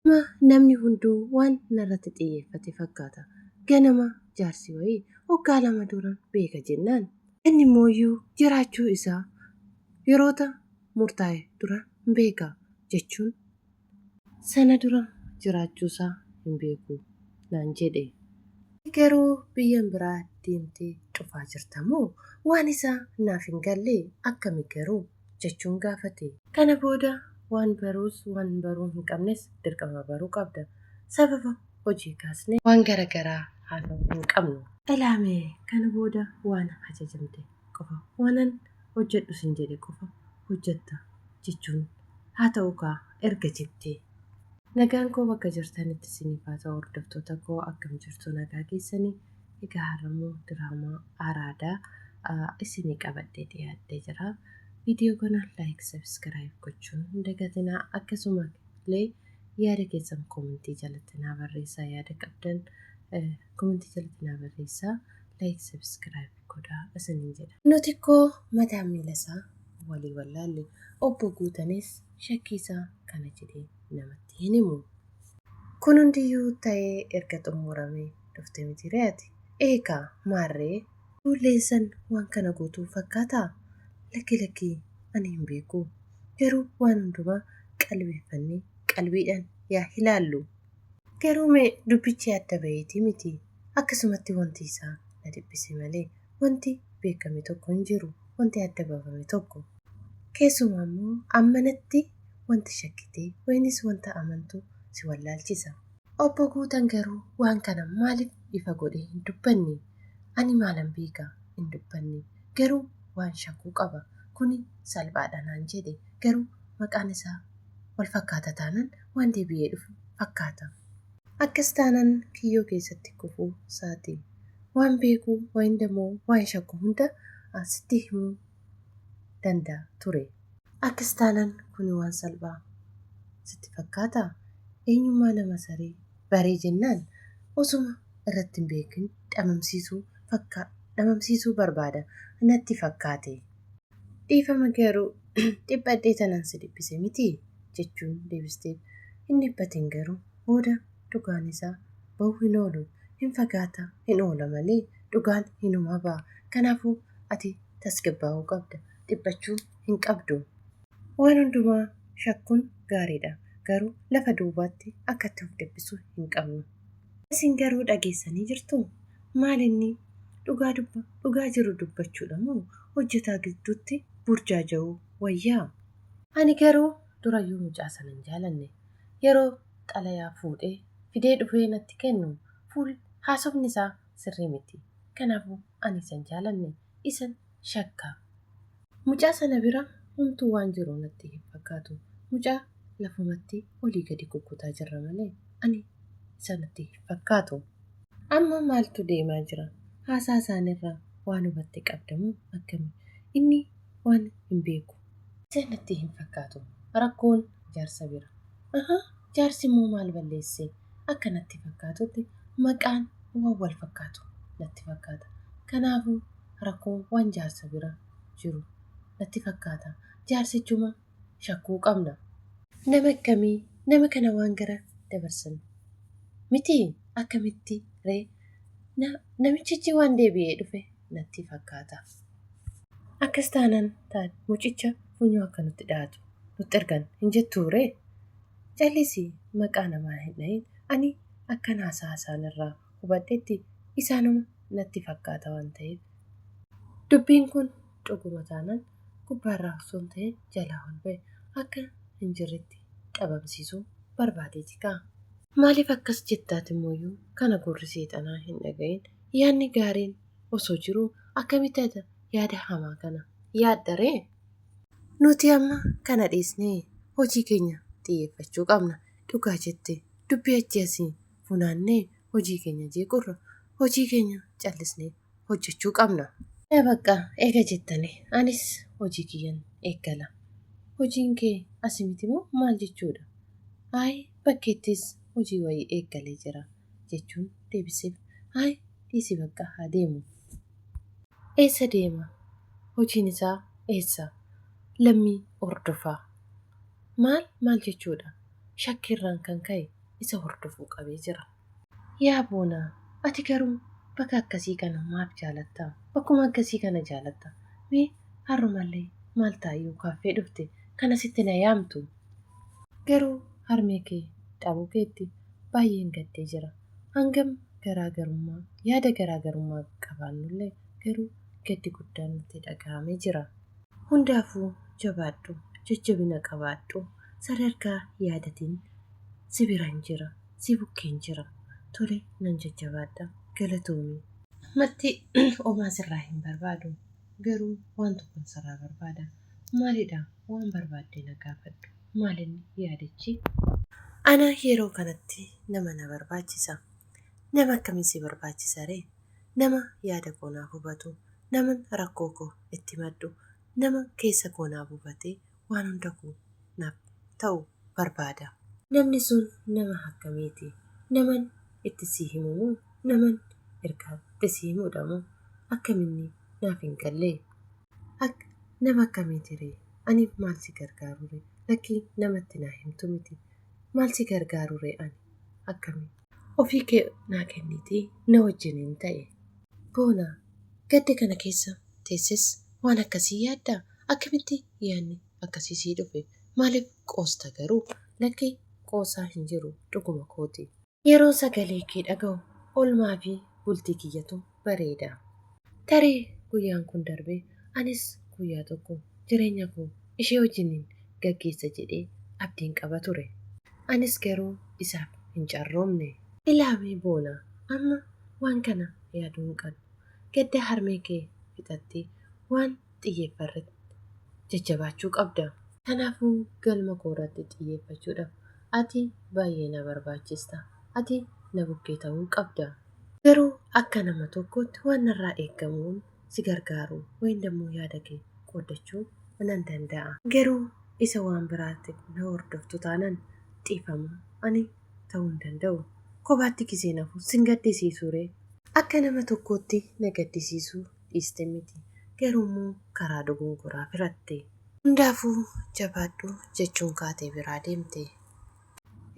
Amma namni hunduu waan narratti xiyyeeffate fakkaata. Ganama jaarsi wayii waggaa lama dura beeka jennaan. Inni immoo jiraachuu isaa yeroota murtaa'e dura hin beeka jechuun. Sana dura jiraachuusaa hin beeku naan jedhe. Ati garuu biyyan biraa deemtee cufaa jirta moo? Waan isaa naaf hin galle akkami garuu? jechuun gaafate. Kana booda waan baruus waan baruu hin qabnes dirqama baruu qabda. Sababa hojii kaasnee waan gara garaa haasa'uu hin qabnu. Ilaa mee kana booda waan ajajamte qofa, waanan hojjedhu sin jedhe qofa hojjetta jechuun haa ta'uu kaa erga jettee. Nagaan koo bakka jirtanitti isiniif haa ta'u hordoftoota koo akkam jirtu nagaa keessanii? Egaa har'ammoo diraamaa araadaa isinii qabadhee dhiyaadhee jira. Viidiyoo kana like, subscribe gochuun hin dagatinaa. Akkasuma illee yaada keessan komentii jalatti naa barreessaa yaada qabdan komentii jalatti naa barreessaa like, subscribe godhaa isiniin jedha. Nuti koo mataa miila isaa walii wallaalle obbo Guutanis shakkii isaa kana jedhee namatti hin himu. Kun hundiyyuu ta'ee erga xummuramee dhufte mitiiree ati? Ee kaa! Maarree? Ijoolleen san waan kana gootu fakkaataa? Lakki lakki ani hin beeku. Garuu waan hundumaa qalbeeffannee qalbiidhaan yaa hilaallu. Garuu mee dubbichi adda baheetii miti. Akkasumatti wanti isaa na dhiphise malee. wanti beekame tokko hin jiru, wanti adda bafame tokko. Keessumaa immoo ammanatti wanti shakkite wayinis wanta amantu si wallaalchisa. Obbo Guutan garuu waan kana maaliif ifa godhee hin dubbanne? Ani maalan beeka? hin dubbanne. Garuu waan shakku qaba. Kuni salphaadha naan jedhe. Garuu maqaan isaa wal fakkaata taanan waan deebi'ee dhufu fakkaata. Akkas taanan kiyyoo keessatti kufuu saati. Waan beeku wayinda moo waan shakku hunda sitti himuu danda ture. Akkas taanan kuni waan salphaa sitti fakkaataa? Eenyummaa nama saree baree jennaan osuma irratti hin beekin dhamamsiisuu fakkaa dhamamsiisuu barbaada natti fakkaate. Dhiifama garuu dhiphadhee tanan si dhiphise mitii? jechuun deebisteef. Hin dhiphatin garuu booda dhugaan isaa bahuu hin oolu. Hin fagaata hin oola malee dhugaan hinuma baha. Kanaafuu ati tasgabbaa'uu qabda. Dhiphachuu hin qabdu. Waan hundumaa shakkuun gaariidha. Garuu lafa duubaatti akkatti of dhiphisuu hin qabnu. Isin garuu dhageessanii jirtuu? Maal inni? Dhugaa dubba, dhugaa jiru dubbachuu dha moo hojjetaa gidduutti burjaaja'uu wayyaa? Ani garuu durayyuu mucaa sana hin jaalanne. Yeroo xalayaa fuudhee fidee dhufee natti kennu fuul haasofni isaa sirrii miti. Kanaafuu ani isa hin jaalanne. Isan shakka. Mucaa sana bira homtuu waan jiru natti hin fakkaatu. Mucaa lafumatti olii gadi kukkutaa jirra malee ani isa natti hin fakkaatu. Amma maaltu deemaa jira? Haasaa isaanirraa waan hubatte qabda moo akkami? Inni waan hin beeku. Isa natti hin fakkaatu. Rakkoon jaarsa bira. Ahaa, jaarsimmoo maal balleesse? Akka natti fakkaatutti maqaan waan wal fakkaatu natti fakkaata. Kanaafuu rakkoo waan jaarsa bira jiru natti fakkaata. Jaarsichuma shakkuu qabna. Nama akkamii nama kana waan gara dabarsan miti akkamitti ree na namichichi waan deebi'ee dhufe natti fakkaata. Akkas taanaan taat mucicha funyoo akka nutti dhahatu nutti ergan hin jettuu ree? Callisii maqaa namaa hin dhahin ani akkan haasa'a isaanirraa hubadhetti isaanuma natti fakkaata waan ta'eef. Dubbiin kun dhuguma taanaan gubbaarraa osoo hin ta'in jalaa ol ba'e akka hin jirretti dhabamsiisuu barbaadeeti kaa. Maaliif akkas jetta atimooyyuu kana gurri seexanaa hin dhaga'in yaadni gaariin osoo jiruu akkamitti ati yaada hamaa kana yaadda ree? Nuti amma kana dhiisnee hojii keenya xiyyeeffachuu qabna. Dhugaa jette dubbii achi asii funaannee hojii keenya jeequrra hojii keenya callisnee hojjechuu qabna. Ee baqqa eega jettanii anis hojii kiyyan eeggala. Hojiin kee asi miti moo maal jechuudha? Ayi bakkeettis hojii wayii eeggalee jira jechuun deebiseef. Ayi dhiisi baqqa haa deemu. Eessa deema? Hojiin isaa eessa? Lammii hordofaa. maal maal jechuudha shakkii irraan kan ka'e isa hordofuu qabee jira. Yaa Boonaa, ati garuu baka akkasii kana maaf jaalatta? Bakkuma akkasii kana jaalatta? Mee harrumallee maal taayuu kaaffee dhufte kan asitti na yaamtu? Garuu harmee kee dhabuu keetti baay'een gaddee jira. Hangam garaa garummaa, yaada garaa garummaa qabaannullee garuu gaddi guddaan natti dhaga'amee jira. Hundaafuu jabaadhu, jajjabina qabaadhu, sadarkaa yaadatiin si biran jira, si bukkeen jira. Tole nan jajjabaadha. Galatoomi. Ammatti homaa sirraa hin barbaadu, garuu waan tokkon sirraa barbaada. Maalidha? Waan barbaadde na gaafadhu. Maalinni yaadichi? Ana yeroo kanatti nama na barbaachisa. Nama akkamii si barbaachisaree? Nama yaada koo naaf hubatu, naman rakkoo koo itti himadhu, nama keessa koo naa buufatee waan hunda koo naaf ta'u barbaada. Namni sun nama akkamiiti? Naman itti sii himu moo naman ergaatti sii himuudha moo? Akkaminni naaf hin galle? Akk nama akkamiiti ree? Ani maal si gargaaru ree? Lakkii nama itti naa himtu miti. Maal si gargaaru ree ani? Akkami? Ofii kee naa kenniitii na wajjiniin ta'i. Boona, Gadda kana keessa teesses waan akkasii yaaddaa? Akkamitti yaadni akkasii sii dhufe? Maaliif qoosta garuu? Lakki qoosaa hin jiru dhuguma kooti. Yeroon sagalee kee dhaga'u oolmaa fi bultii kiyyatu bareeda. Tarii guyyaan kun darbee anis guyyaa tokko jireenya koo ishee wajjinin gaggeessa jedhee abdiin qaba ture. Anis garuu isaaf hin carroomne. Ilaawii Boonaa, Amma waan kana yaaduu hin qabdu. Gadda harmee kee fixattee waan xiyyeeffarratti jajjabaachuu qabda. Kanaafuu galma koorratti xiyyeeffachuudhaaf ati baay'ee na barbaachista. Ati na bukkee ta'uu qabda. Garuu akka nama tokkootti waan narraa eegamuun si gargaaru wayiin dammoo yaada kee qooddachuu nan danda'a. Garuu isa waan biraatti na hordoftu taanan dhiifama ani ta'uu hin danda'u. Kophaatti gizee nafu sin gaddisiisuu ree? Akka nama tokkootti na gaddisiisuu dhiiste miti. Garuu immoo karaa dogongoraa firatte. Hundaafuu jabaadhu jechuun kaatee biraa deemte.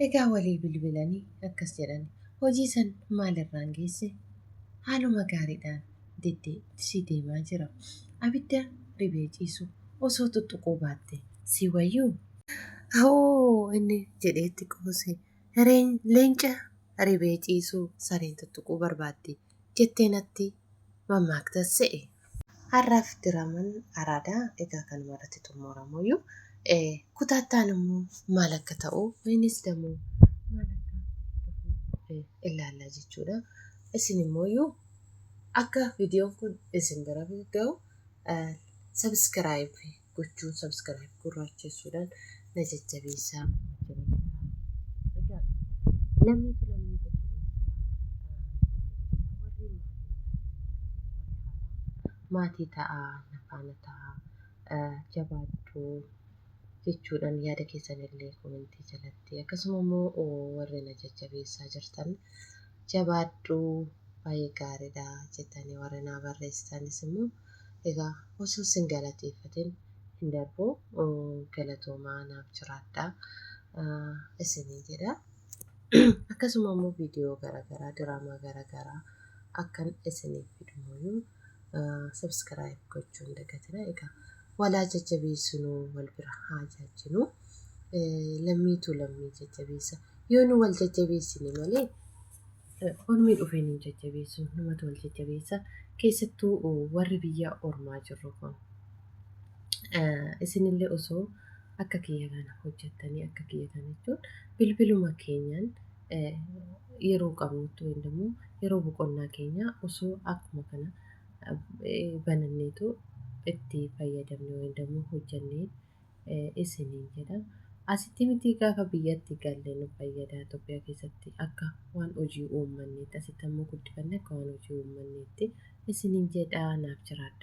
Egaa walii bilbilanii akkas jedhani. Hojii san maal irraan geesse? Haaluma gaariidhaan deddeebisii deemaa jira. Abidda ribee ciisu osoo xuxxuquu baatte sii wayyuu? Awoo! inni jedhee itti qoose. Leenca ribee ciisu sareen xuxxuquu barbaaddi. jettee natti mammaaktas se'e. Har'aaf diraaman Araadaa egaa kanuma irratti xummuuramuuyyu. Kutaa itti aanu immoo maal akka ta'u innis damoo maal akka dhufu ilaalla jechuudha. Isin immoo akka viidiyoon kun isin bira ga'u sabiskiraayib gochuun subscribe gurraachessuudhaan na jajjabeessaa egaa lammiitu lammii maatii ta'aa na faana ta'aa jabaadhuu jechuudhaan yaada keessan illee komentii jalatti akkasuma immoo warri na jajjabeessaa jirtan jabaadhuu baay'ee gaariidha jettanii warri naa barreessitanis immoo Egaa osoo sin galateeffatin hin darbu galatoomaa naaf jiraadhaa isinii jedha. Akkasuma immoo viidiyoo garaagaraa diraamaa garaagaraa akkan isiniif fidumuyyuu subscribe gochuu hin dagatina. Egaa walaa jajjabeessinuu wal bira haa jaajjinuu. Lammiitu lammii jajjabeessa. Yoo nu wal jajjabeessine malee Ormi dhufee nun jajjabeessu numatu wal jajjabeessa keessattuu warri biyya ormaa jirru kun isinillee osoo akka kiyya kana hojjettanii akka kiyya kana jechuun bilbiluma keenyaan yeroo qabnutti yookiin immoo yeroo boqonnaa keenya osoo akkuma kana bananneetu itti fayyadamne yookiin immoo hojjennee isiniin jedha. Asitti miti gaafa biyyatti galle nu fayyada Itoophiyaa keessatti akka waan hojii uummanneetti asitti ammoo guddifanne akka waan hojii uummanneetti isiniin jedha naaf jiraadha.